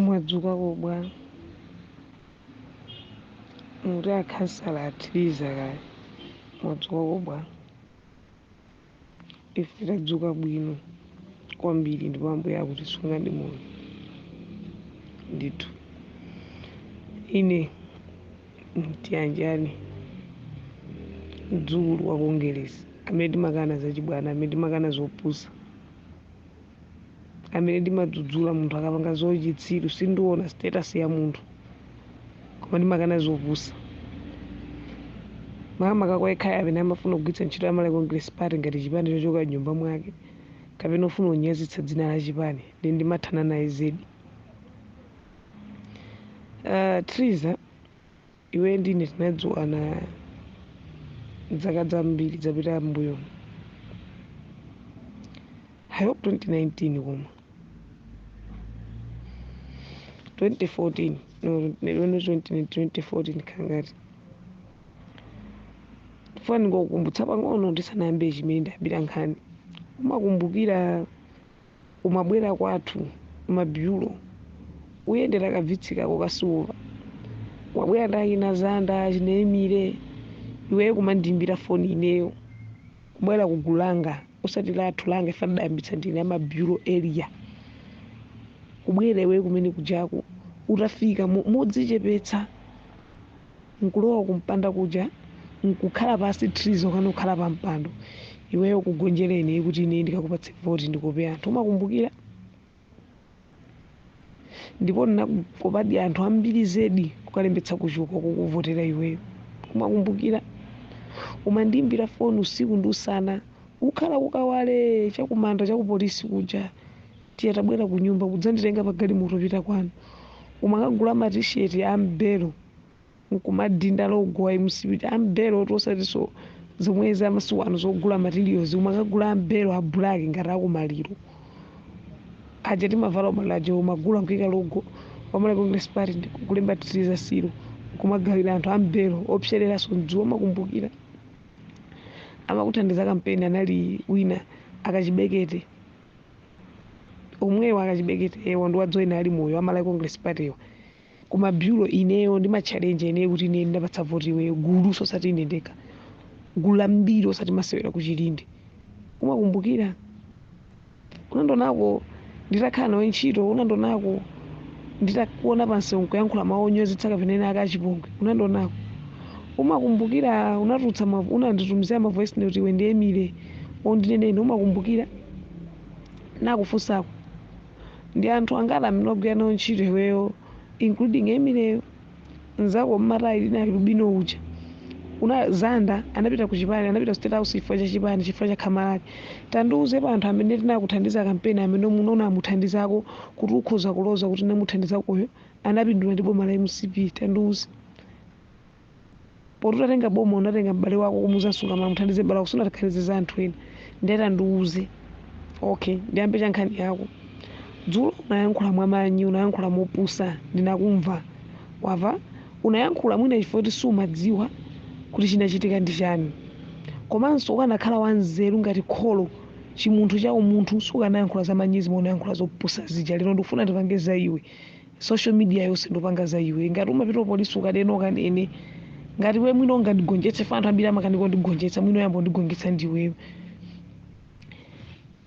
Mwadzukako bwa? Mukuti a khansala athiliza kaya. Mwadzukako bwa? Ife tadzuka bwino kwambiri ndipo Ambuye akutisunga ndi moyo. Ndithu. Ine Tiyanjane mdzukulu wa Kongelesi amene timakana zachibwana, amene timakana zopusa. amene ndimadzudzula munthu akapanga zochitsiru sindiona status ya munthu koma ndimakana zopusa makamaka kwa yekhayo amene amafuna kugwiritsa ntchito ya malawi congress party ngati chipani chochoka m'nyumba mwake kapena ofuna kunyazitsa dzina la chipani nde ndimathana naye zedi uh, triza Iweyo ndi ine tinadziwana zaka zambiri zapita m'mbuyomu. I hope 2019 koma 2014 no 2014 khangati ndikufuna ndingokukumbutsa pang'ono ndisanayambe chimene ndabwerera nkhani umakumbukira umabwera kwathu ma biwi ukuyendera ka Vitz kako ka silver wabwera ndi achina zanda achina emire iweyo kumandiimbira foni ineyo kubwera kugulu langa osati lathu langa nde ndidayambitsa ndine a ma biwi area kubwera iweyo kumene kujaku utafika mo- modzichepetsa nkulowa kumpanda kuja nkukhala pansi Triza kukana kukhala pa mpando iweyo kugonjera ine kuti ine ndikakupatse voti ndikope anthu umakumbukira ndipo ndinakopadi anthu ambiri zedi kukalembetsa kuchuka kukuvotera iweyo umakumbukira umandiimbira foni usiku ndi usana ukukhala ku Kawale chakumanda chakupolisi kuja Tiye tabwera kunyumba kudzanditenga pa galimoto kupita kwanu. Umakagula ma t-shirt a m'belo nkumadinda logo wa mcp kuti a m'belo oti osatinso zomwezi za masiku ano zogula materials umakagula a m'belo a black ngati akumaliro aja timavala kumaliro aja umagula nkuika logo wa malawi congress party ndi kulemba Triza siro kumagawira anthu a m'belo opsereranso m'dzuwa umakumbukira amakuthandiza kampeni anali wina akachibekete omwewo akachibeketewo ndi wadzoyina ali moyo amalawi congress party wa ku ma biwi ineyo ndimachalenja ineyo kuti ine ndakupatsa voti iweyo gulunso osati ine ndekha gulu lambiri osati masewera kuchilinde umakumbukira unandonako nditakhala nawe ntchito unandonako nditakuona pansewu nkuyankhula mawu onyozetsa kapena ena ake achipongwe unandonako umakumbukira unatulutsa ma- unanditumizira ma voice note iwe ndi emile undinenene umakumbukira nakufunsako ndi anthu angati amene wagwira nawo ntchito iweyo including Emile mzako wa mataye linali lubino uja una zanda anapita ku chipani anapita ku state house chifukwa cha chipani chifukwa cha khama lake tandiuze pa anthu amene tinakuthandiza kampeni amene muno unamuthandizako kuti ukhoza kuloza kuti namuthandizakoyo anapindula ndi boma la mcp tandiuze poti utatenga boma unatenga m'bale wako kumudzamsunga mala muthandize m'bale wako sunathandize za anthu ena ndiye tandiuze okay ndiyambe cha nkhani yako dzulo unayankhula mwamanyi unayankhula mopusa ndinakumva wamva unayankhula mwina chifukwa kuti sumadziwa kuti chinachitika ndi chani komanso ukanakhala wanzeru ngati kholo chimunthu cha umunthu sukanayankhula za manyizi unayankhula zopusa zija lero ndikufuna ndipange za iwe social media yonse ndipanga za iwe ngati umapita kupolisi ukanene ukanene ngati iwe mwina ungandigonjetse fa anthu ambiri amakanika kundigonjetsa mwina oyamba kundigonjetsa ndiweyo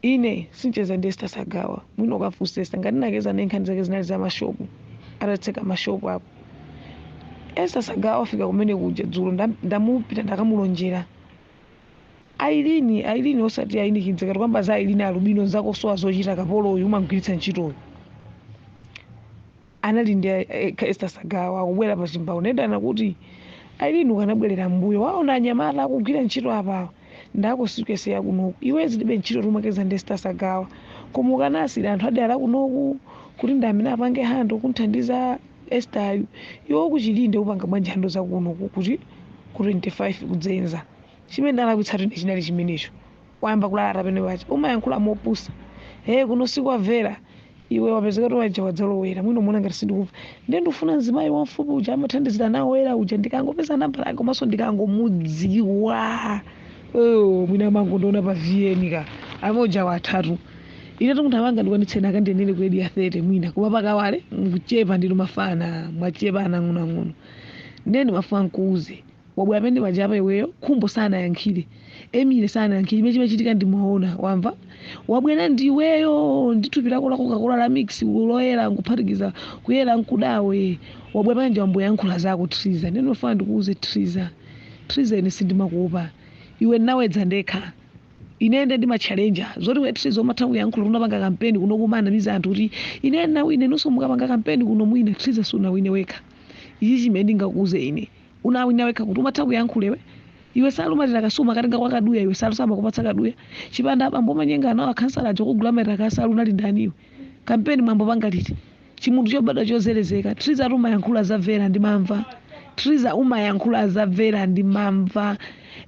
ine sincheza ndi Esther Sagawa mwina ukafunse Esther ngati nacheza naye nkhani zake zinali za mashopu atatseka mashopu apo Esther Sagawa wafika kumene kuja dzulo ndam- ndamupita ndakamulonjera ailini ailini osati aini kidza kati kwamba za ailini alubino zakosowa zochita kapolo uyu umamgwiritsa ntchitoyo anali ndi eh, Esther Sagawa akubwera pa chimbawu ndendana kuti ailini ukanabwerera mbuyo waona anyamata akugwira ntchito apawa ndako sikese yakunoku iwe zilibe ntchito timacheza ndi Esther Sagawa koma ukanasiyira anthu a dera kunoku kuti ndi amene apange handle kunthandiza Esther iwe ku Chilinde upanga bwanji handle zakuno ku- kuti ku 25 kudzenza chimene ndalakwitsatu ine chinali chimenecho wayamba kulalata pamene paja umayankhula mopusa ee kuno sikwamvera iwe wapezeka kuti waja wadzalowera mwina umaona ngati sindikumva ndiye ndikufuna mzimayi wamfupi uja amathandizira nawo era uja ndikangopeza nambala yake komanso ndikangomudziwa oh, mwina amangondiona pa VN ka amene uja wathatu ine munthu wanga ndikwanitseni akandiyendere grade ya 30 mwina koma pa Kawale mukuchepa ndinu mafana mwachepa anang'onoang'ono ndiye ndimafuna nkuuze wabwera pamene pajapa iweyo khumbo sanayankhire emile sanayankhire imene chimachitika ndimaona wamva wabwera ndiweyo ndithupi lako la Coca-Cola la mix loyera nkuphatikiza kuyera nkudawe wabwera pamene ndi wayamba kuyankhula zako triza ndiye ndimafuna ndikuuze triza triza ine sindimakuopa iwe nabwera ndekha Ine nde ndimatchalenja zoti iwe Triza umatha kuyankhula unapanga kampeni kuno kumanamiza anthu kuti ine ndinawina inunso mukapanga kampeni kuno mwina Triza sunawine wekha. Ichi chimene ndingakuuze ine. Unawina wekha kuti umatha kuyankhula iwe? Iwe nsalu, ma track suit umakatenga kwa Kaduya iwe nsalu samakupatsa Kaduya. Chipanda abambo a Manyengana wo akhansala aja okugulira matira kasalu unali ndani iwe? Kampeni mwayamba kupanga liti? Chimunthu chobadwa chozerezeka. Triza umayankhula za Vera ndimamva. Triza umayankhula za Vera ndimamva.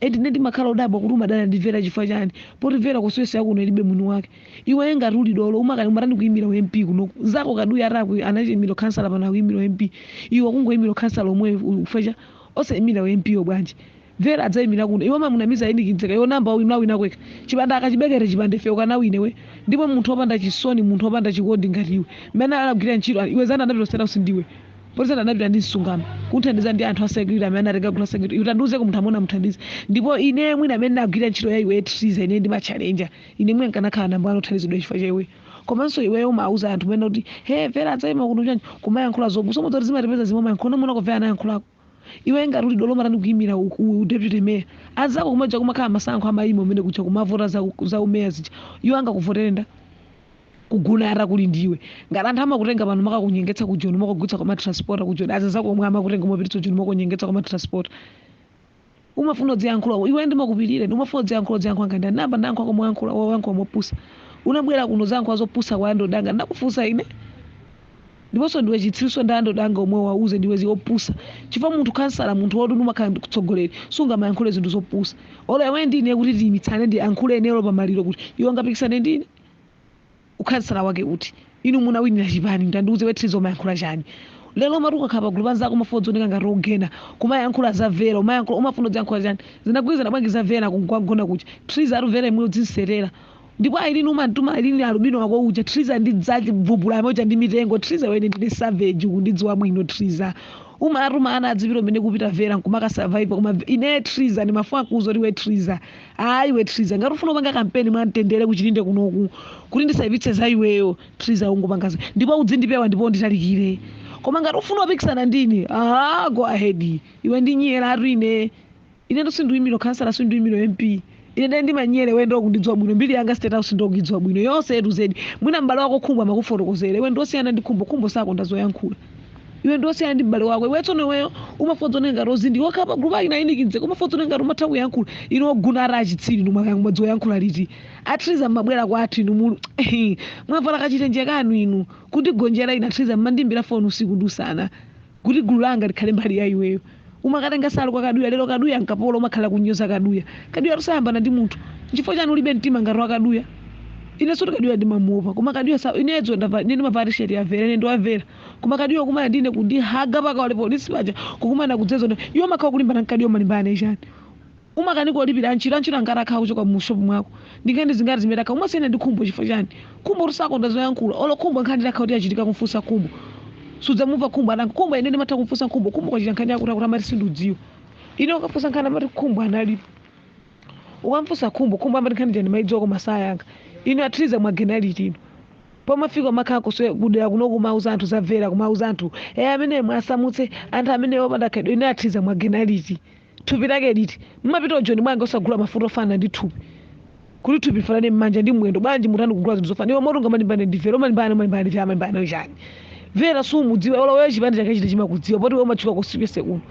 Eti ine ndimakhala odabwa kuti umadana ndi Vera chifukwa chani? Poti Vera constituency yakuno ilibe mwini wake. Iwe ngati uli dolo umatani kuimira u MP kunoku. Nzako Kaduya ata aku anaimira ukhansala pano akuimira u MP. Iwe kungoimira ukhansala omweyo u- chifukwa cha osaimira u MP yo bwanji? Vera adzaimira kuno. Iwe umamunamiza Enick mzika iwe unayamba wawin wawina kwekha. Chipanda akachibekere chipanda ife ukanawina iwe? Ndipo munthu opanda chisoni munthu opanda chikondi ngati iwe. Mmene anali akugwira ntchito iwe Zanda anapita ku state house ndi iwe? Poti Zanda anapita ndi Msungama. Kuthandiza ndi anthu a security amene anatenga gulu la security. Iwe tandiuzeko munthu amene unamuthandiza. Ndipo ineyo mwina amene ndinagwira ntchito ya iweyo Triza ineyo ndi ma challenger. Ine mwina nkanakhala number 1 othandizidwa chifukwa cha iweyo. Komanso iweyo umauza anthu mwina kuti he Vera adzaima kuno chanji kumayankhula zopusa umadziwa kuti zimatipeza zimwe umayankhula unamuonako Vera anayankhulako? iwe ngati uli dolo umatani kuyimira u, u, u deputy mayor azako kumaja kumakhala masankho amayima umene kuja kumavota za, za umeya zija iwo angakuvotere nda ku Guna yara kuli ndiwe ngati anthu amakutenga pano makakunyengetsa ku Joni makugwiritsa kwa matransport ku Joni azinzako omwe amakutenga mopititsa Joni makunyengetsa kwa matransport Umafuna udziyankhula iwe ndimakupirira ine umafuna udziyankhula udziyankhula ngati ndani nayamba ndayankhulako moyankhula iwe wayankhula mopusa unabwera kuno udzayankhula zopusa kwa andodo anga ndinakufunsa ine ndiponso ndiwe chitsiru so ndi andodo anga omwe wauze ndiwe zi opusa chifukwa munthu khansala munthu woti umakhala mtsogoleri sungamayankhule zinthu zopusa olo iwe ndi ine kuti tiyimitsane ndiyankhule ine olo pamaliro kuti iwe ungapikisane ndi ine ukhansala wake uti? inu munawinira chipani utandiuze iwe Triza umayankhula chani? lero umati ukakhala pagulu pa anzako umafuna udzioneka ngati ogena kumayankhula za Vera umayankhula umafuna udziyankhula chani? zinagwirizana bwanji za Vera ku Guna kuja? Triza atu Vera yemweyo udzimsiyira ndipo Aileen umamtuma Aileen alubino wako uja Triza ndidzachibvubula yamwe uja ndi mitengo Triza iwe ine ndine savage ukundidziwa bwino Triza umatuma ana adzipita kumene kupita Vera nkumaka survivor koma ineyo Triza ndimafuna kuuza kuti iwe Triza Ah iwe Triza ngati ufuna kupanga kampeni mwa mtendere ku Chilinde kunoku kuti ndisaipitse za iweyo Triza ungopanga za- ndipo udzindipewa ndipo unditalikire. Koma ngati ufuna upikisana ndine, ah go ahead. Iwe ndinyera atu ine. Ine ndo sinduyimira kansala sinduyimira MP. Ine ndine ndimanyere iwe ndo kundidziwa bwino mbiri yanga state house ndo kuidziwa bwino yonse yetu zedi. Mwina m'bale wako Khumbo amakufotokozera iwe ndosiyana ndi Khumbo Khumbo sakonda zoyankhula. iwe ndi osiyana ndi m'bale wako iwe tsono iweyo umafuna udzione ngati ozindikira pa gulupu ayina a Enick mzika umafuna udzione ngati umatha kuyankhula inu oguna ati achitsiri inu mwakanga mwadziwa kuyankhula liti a Triza mmabwera kwathu inu mulu mwavala kachitenje kanu inu kundigonjera ine a Triza mmandimbira foni usiku ndi usana kuti gulu langa likhale mbali ya iweyo Umakatenga nsalu kwa Kaduya lero Kaduya nkapolo umakhalila kunyoza Kaduya. Kaduyatu sayambana ndi munthu. Nchifukwa chani ulibe mtima ngati wa Kaduya? Inensotu Kaduya ndimamuopa koma Kaduya sa ine dzulo ndavala ine ndimavala t-shirt ya Vera ine ndi wa Vera. Koma Kaduya kukumana ndi ine kundihaga pa Kawale police paja kukumana kudzeza ndi iwe umakhala ukulimbana ndi Kaduya umalimbana naye chani? Umakanika olipira antchito, antchito angati akhala akuchoka mu shop mwako? Ndi nkhani zingati zimene takhala, umasiyana ndi Khumbo chifukwa chani? Khumbotu sakonda zoyankhula, olo Khumbo nkhani itakhala kuti yachitika kumfunsa Khumbo, sudzamumva Khumbo atayankha, Khumbo ine ndimatha kumfunsa Khumbo, Khumbo kwachitika nkhani yakuti yakuti amati sindikudziwa. Ine ukafunsa nkhani amati Khumbo analipo. Ukamfunsa Khumbo, Khumbo amati nkhani ija ndimaidziwa koma sayankha. Inu a Triza mwagena liti inu? Pomafika umakhala kudera kuno kumauza anthu za Vera, kumauza anthu, eh ameneyo mwasamutse, anthu ameneyo opanda khalidwe, inu a Triza mwagena liti? Thupi lake liti? Mumapita ku joni bwanji osagula mafuta ofanana ndi thupi kuti thupi lifanane mmanja ndi mmwendo bwanji mutani kugula zinthu zofanana iwe moti ungamalimbane ndi vera umalimbana naye umalimbana ndi vera umalimbana naye chani vera sumudziwa olo wewe chipani chake chiti chimakudziwa poti iwe umatchuka konsekonse kuno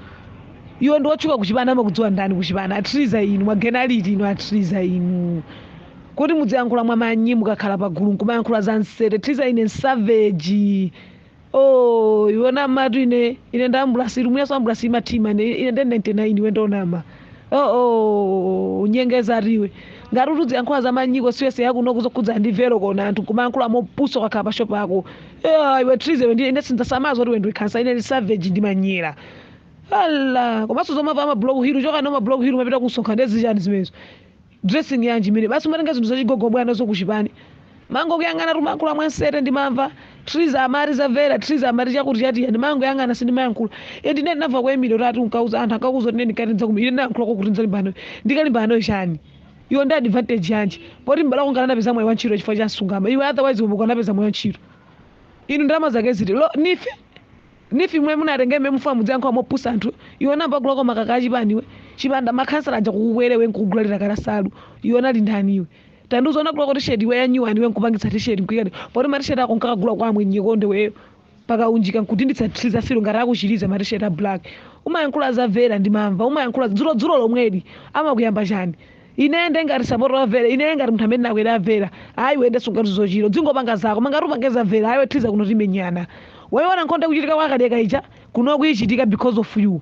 iwe ndi wotchuka kuchipani amakudziwa ndani kuchipani a triza inu mwagena liti inu a triza inu kuti mudziyankhula mwamanyi mukakhala pagulu nkumayankhula za nsete triza ine ndi savage Oh, iwe wanamatu ine ine ndi ambulansi lumuyaso ambulansi imathima ine ine ndi 99 iwe ndi wonama oh, oh, ukunyengeza ati iwe ngati kuti udziyankhula zamanyi siyese yakuno zokhudza ndi vera kona anthu kumayankhula mopusa kukhala pa shopu yako yeah, iwe triza iwe ndi ine sindisamala zo kuti iwe ndiwe khansala ine ndi savage ndimanyera ala komanso zomava ama blog hill chokani ama blog hill mmapita kumsonkhano ndi zichani zimenezo dressing yanji imene basi umatenga zinthu zachigogo kubwera nazo kuchipani timangokuyang'ana umayankhula mwansete ndimamva triza amati za vera triza amati chakuti chakuti ndimangoyang'ana sindimayankhula e ndine ndinamva kwa emilio ati unkauza anthu ankauza kuti ndikati ndidzakumira ine ndinayankhulako kuti ndidzalimbana ndikalimbana naye chani iwe ndi advantage yanji poti mbali yako unapeza mwayi wa ntchito chifukwa cha msungama iwe otherwise umo ukanapeza mwayi wa ntchito inu ndalama zake ziti lo nife Nifi imwe munatenge imwe mufuna mudziyankhula mopusa anthu iwe unamva kuloko makaka achipani iwe chipanda makhansala aja kukukwera iwe nkukugulira kansalu iwe unali ndani iwe tandiuza unagulako tisheti iwe ya nyuwani iwe nkupangitsa tisheti nkuika poti matisheti ako nkakagula kwa amwenye ko nde iweyo pakaunjika nkudinditsa triza filo ngati akuti triza matisheti a black umayankhula za vera ndimamva umayankhula dzulo dzulo lomweli amakuyamba chani Ine nde ngati sapota wa Vera inee ngati munthu amene ndakwera Vera ayi iwe nde sungathe zochita udzingopanga zako koma ngati upange za Vera ayi iwe Triza kuno timenyana waiwona nkhondo ikuchitika kwa Kaliyeka ija kuno ikuchitika because of you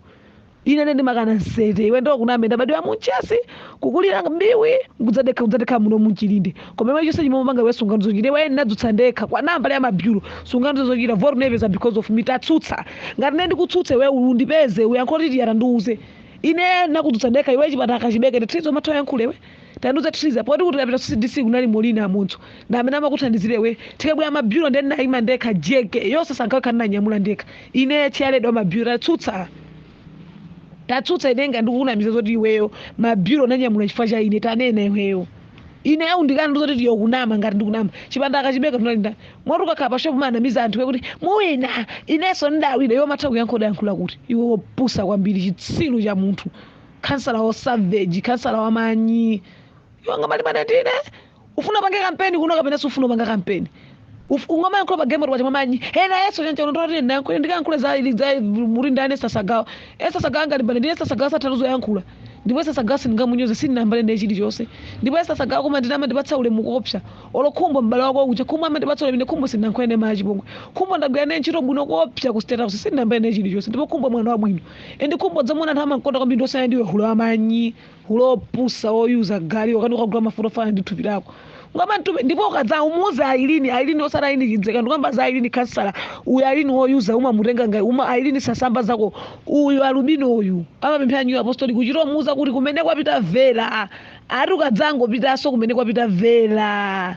ine nde ndimakana nsete iwe ndikunamize ndabadwira mu Mchesi kukulira Biwi nkudzadekha kudzadekha muno mu Chilinde koma iwe chonse chimwe umapanga iwe sungathe zochita iwe ndinakudzutsa ndekha kwa nambala ya mabyuro sungathe zochita vote unayipeza because of me tatsutsa ngati ine ndikutsutse iwe undipeze uyankhe kuti tandiuze ine ndakudzutsa ndekha iwe chipatala kachibeke ndi triza umatha uyankhule iwe tandiuza triza poti kuti utapita cdc kunali molina amunthu ndi amene amakuthandizira iwe tikabwera mabyuro ndi ndinayima ndekha jeke yonse sankhawekha ndinanyamula ndekha ine chairlady wa mabyuro tatsutsa tatsutsa ine ngati ndikukunamiza zoti iweyo mabyuro unanyamula chifukwa cha ine tanena iweyo ine undikana ndi zoti tiye kunama ngati ndikunama chipanda akachibeka tunali ndani moti ukakhala pa shopu umanamiza anthu kuti muwina inenso ndidawina iwe umatha kuyankha udayankhula kuti iwe wopusa kwambiri chitsiru cha munthu khansala wa savage khansala wa manyi iwe ungamalimbane ndine ufuna upange kampeni kuno kapena sufuna upange kampeni ungamayankhula pa game pacha mamanyi ena yeso chanchano ndoti ndiyankhule ndikayankhule za za muri ndani sasagawa esasagawa angalimbane ndine sasagawa satha zoyankhula ndipo esasagawa sindingamunyoze sindinayambane naye chilichonse ndipo esasagawa koma ndine amandipatsa ulemu koopsa olo khumbo m'bale wako uja khumbo amandipatsa ulemu ine khumbo sindinayankhule naye mwa chipongwe khumbo ndagwira naye ntchito bwino koopsa ku state house sindinayambane naye chilichonse ndipo khumbo mwana wabwino endi khumbo dzamuna anthu amankonda kwambiri ndosaya ndiwe hula wamanyi uli opusa woyuza gali wakati ukagula mafuta ofanana ndi thupi lako ngoma mtume ndipo ukadzamuuza ailini ailini osati ailini chidzeka ndikukamba za ailini kansala uyu ailini woyuza umamutenga ngai uma ailini sasamba zako uyu alubino uyu amapemphera new apostolic kuchita kumuuza kuti kumene kwapita vera ati ukadzangopitanso kumene kwapita vera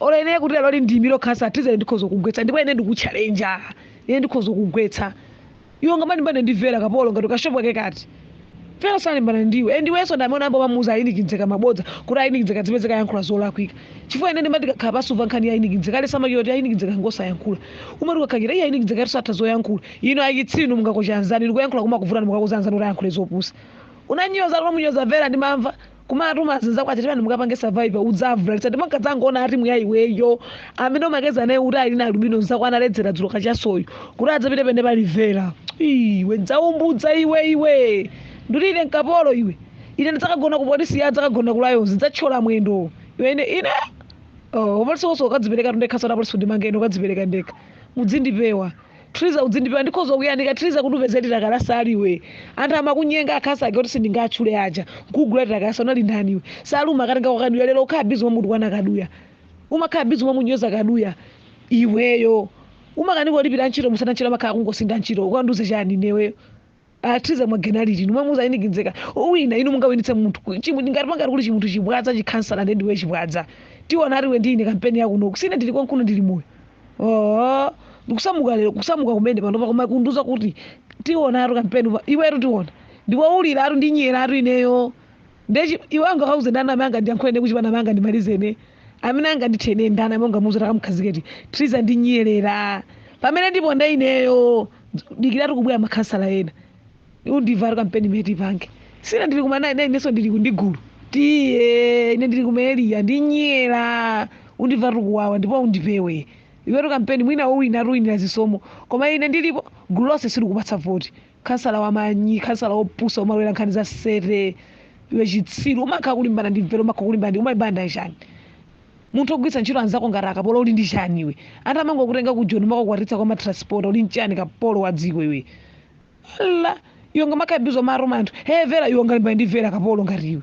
olo ine kuti lero ndiimire ukhansala triza ndikhoza kugwetsa ndipo ine ndikutchalenja ine ndikhoza kugwetsa iwe ungamalimbane ndi vera kapolo ngati kashopu ake kati vera salimbana ndiwe and iwenso ndamene ambo umamuuza ailini chidzeka mabodza kuti ailini chidzeka zimene akuyankhula zolakwika chifukwa ine ndimati ndikakhala pansi kumva nkhani ya ailini chidzeka ale samakiwa kuti ailini chidzeka ngosayankhula umati ukakhakira iye ailini chidzeka ati satha zoyankhula inu ayitsinu mungakocha anzanu ndikuyankhula kumakuvutani mukauza anzanu kuti ayankhule zopusa unanyoza kuti munyoza vera ndimamva kumatuma azinzako aja tipani mukapange survivor udzavulalitsa ndipo nkadzangoona atimu ya iweyo amene umakeza naye kuti ali na alubino nzako analedzera dzulo kachasoyo kuti adzapite pamene pali vera iwe ndzaumbudza iwe iwe ndikuti ine nkapolo iwe ine ndidzakagona ku polisi ya adzakagona ku lions ndidzathyola mwendo iwe ine ine oh, upolisi wonse ndikadziperekatu ndekhanso kwa polisi kuti mangeni ndikadzipereka ndekha mudzindipewa Triza udzindipewa ndikhoza kuyanika triza kuti upeze titakalasa ali iwe anthu amakunyenga akhansala ake oti sindingawatchule aja nkugula titakalasa unali ndani iwe saluma akatenga kwa kaduya lero ukhala bizi umamutukwana kaduya umakhala bizi umamunyoza kaduya iweyo umakanika kulipira antchito musana ntchito amakhala kungosinda ntchito ukandiuze chani ineweyo a triza mwagena liti nomwe muza ailini chidzeka uwina inu mungawinitse munthu ku- chimu- ngati pangati kuli chimunthu chibwadza chikhansala ndi ndiwe chibwadza tiona atiwe ndi ine kampeni yakunoku si ine ndili konkuno ndili moyo oo ndikusamuka lero kusamuka kumene panopa koma kundiuza kuti tionatu kampeni pa- iwetu tiona ndiwauliratu ndinyeratu ineyo Ndiye chi- iwe ungakauze ndani amene angandiyankhule ine kuchipani amene angandimalize ine amene angandithe ine ndani amene ungamuuza takamkhaziketi triza ndi nyerera pamene ndipo nda ineyo dikiratu kubwera makhansala ena undimvatu kampeni imene tipange sina ndili kumanayi nayi inenso ndili ku- ndi gulu tiye ine ndili kumaeliya ndi nyera undimvatu kuwawa ndipo undipewe iwetu kampeni mwina wowina atuwinira zisomo koma ine ndilipo gulu lonse silikupatsa voti khansala wamanyi khansala wopusa umalowera nkhani za sete iwe chitsiru umakhala kulimbana ndi vera umakhala kulimbana ndi umalimbana ndi chani munthu ogwiritsa ntchito anzako ngati akapolo uli ndi chani iwe anthu amangokutenga ku joni umakukwatitsa kwa matransport uli nchani kapolo wa dziko iwe la iwe ngamakhabizo maroma anthu he vera iwe ungalimbane ndi vera kapolo ngati iwe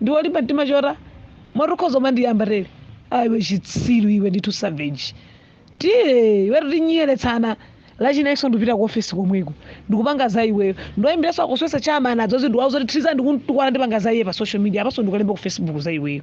ndiwe olimba mtima chotani moti ukhoza kumandiyamba tele iwe chitsiru iwe ndithu savage tiye iwetu tinyeretsana lachinayinso ndipita ku ofesi komweko ndikupanga za iweyo ndiwayimbiranso akuswesa chama anadzozi ndiwauza kuti triza ndikumutukwana ndipanga za iye pa social media apanso ndikalemba ku facebook za iweyo